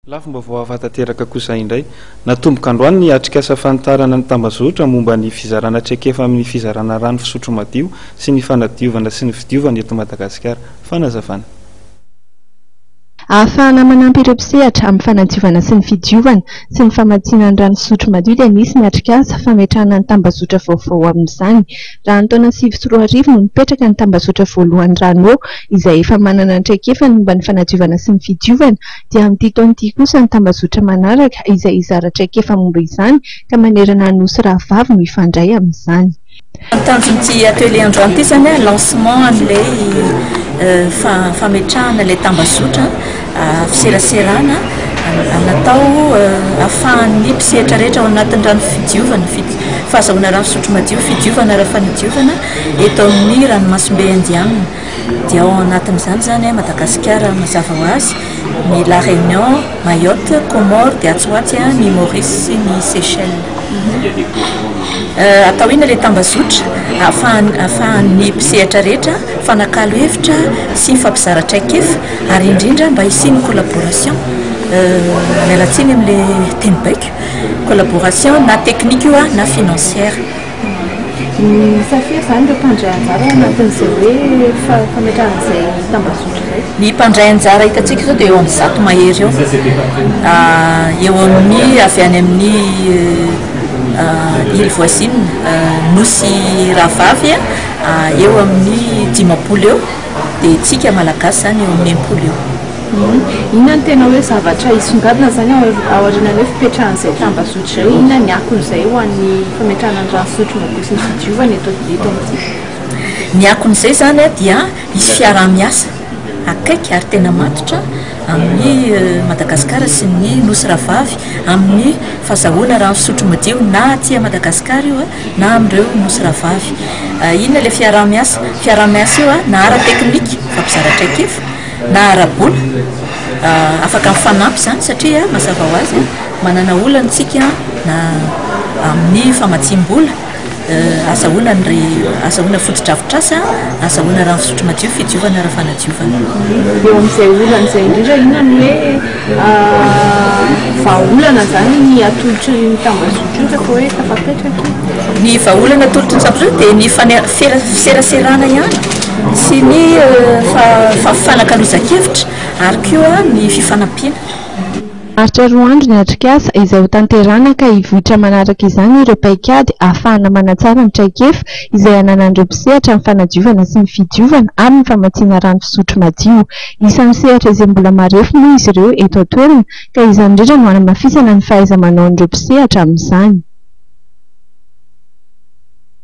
Lafim-baovao hafa tanteraka kosa indray. Natomboka androany ny atrikasa fanitarana ny tambazotra momba ny fizarana traikefa amin'ny fizarana rano fisotro madio sy ny fanadiovana sy ny fidiovana eto Madagasikara. Fanazavana. Ahafahana manampy ireo mpisehatra amin'ny fanadiovana sy ny fidiovana sy ny famatsiana ny rano fisotro madio dia nisy ny atrikasa fametrahana ny tambazotra vaovao amin'izany. Raha ny taona sivy sy roa arivo no nipetraka ny tambazotra voalohany Rano izay efa manana ny traikefany momba ny fanadiovana sy ny fidiovana dia amin'ity taona ity kosa ny tambazotra manaraka izay hizara traikefa momba izany ka manerana ny Nosy rahavavy no hifandray amin'izany. Ny tanjon'ity atelier androany ity izany hoe lancement an'ilay fametrahana ilay tambazotra fiseraserana natao ahafahan'ny mpisehatra rehetra ao anatin'ny rano fidiovana, fahazahoana rano fisotro madio, fidiovana ara-panadiovana eto amin'ny ranomasimbe Indianina. dia ao anatin'izany izany Madagasikara mazava ho azy, ny La Réunion, Mayotte, Comores dia atsy ho atsy ny Maurice sy ny Seychelles. Atao inona ilay tambazotra? Ahafahan'ny mpisehatra rehetra mifanakalo hevitra sy mifampizara traikefa ary indrindra mba hisian'ny collaboration, miala tsiny amin'ilay teny baiko, collaboration na teknika io na financière. Misafidy izany ireo mpandray anjara ao anatin'izay hoe fametrahana izay tambazotra izay? Ny mpandray anjara hitantsika izao dia eo amin'ny zato mahery eo. Eo amin'ny avy any amin'ny île voisine, nosy rahavavy, eo amin'ny dimampolo eo. dia tsika malagasy zany eo amin'ny impolo io. Inona no tena hoe zavatra hisongadina izany ao aorianan'ny hoe fipetrahan'izay tambazotra izay? Inona ny akon'izay ho an'ny fametrahana ny rano fisotro madio sy ny fidiovana eto eto amintsika? Ny akon'izay izany dia hisy fiaraha-miasa akaiky ary tena matotra amin'i Madagasikara sy ny Nosy Rahavavy amin'ny fazahoana rano fisotro madio na aty Madagasikara io na amin'ireo nosy rahavavy. Inona ilay fiaraha-miasa? Fiaraha-miasa io na ara-teknika, mifampizara traikefa, na ara-bola. Afaka mifanampy izany satria mazava ho azy, manana olana isika na amin'ny famatsiam-bola, azahoana ny azahoana fotodrafitrasa, azahoana rano fisotro madio, fidiovana ara-fanadiovana. Eo amin'izay olana izay indrindra, inona no hoe... vahaolana izany ny atolotry ny tambazotra io, rehefa hoe tafapetraka io? Ny vahaolana atolotry ny tambazotra dia ny fane- fera- fiseraserana ihany sy ny fa- fifanakalozan-kevitra ary koa ny fifanampiana. Maharitra roa andro ny atrikasa, izay hotanterahana ka hivoitra manaraka izany ireo paikady ahafahana manatsara ny traikefa izay ananan'ireo mpisehatra amin'ny fanadiovana sy ny fidiovana ary ny famatsiana rano fisotro madio. Isan'ny sehatra izay mbola marefo moa izy ireo eto an-toerana ka izany indrindra no hanamafisana ny fahaiza-manaon'ireo mpisehatra amin'izany.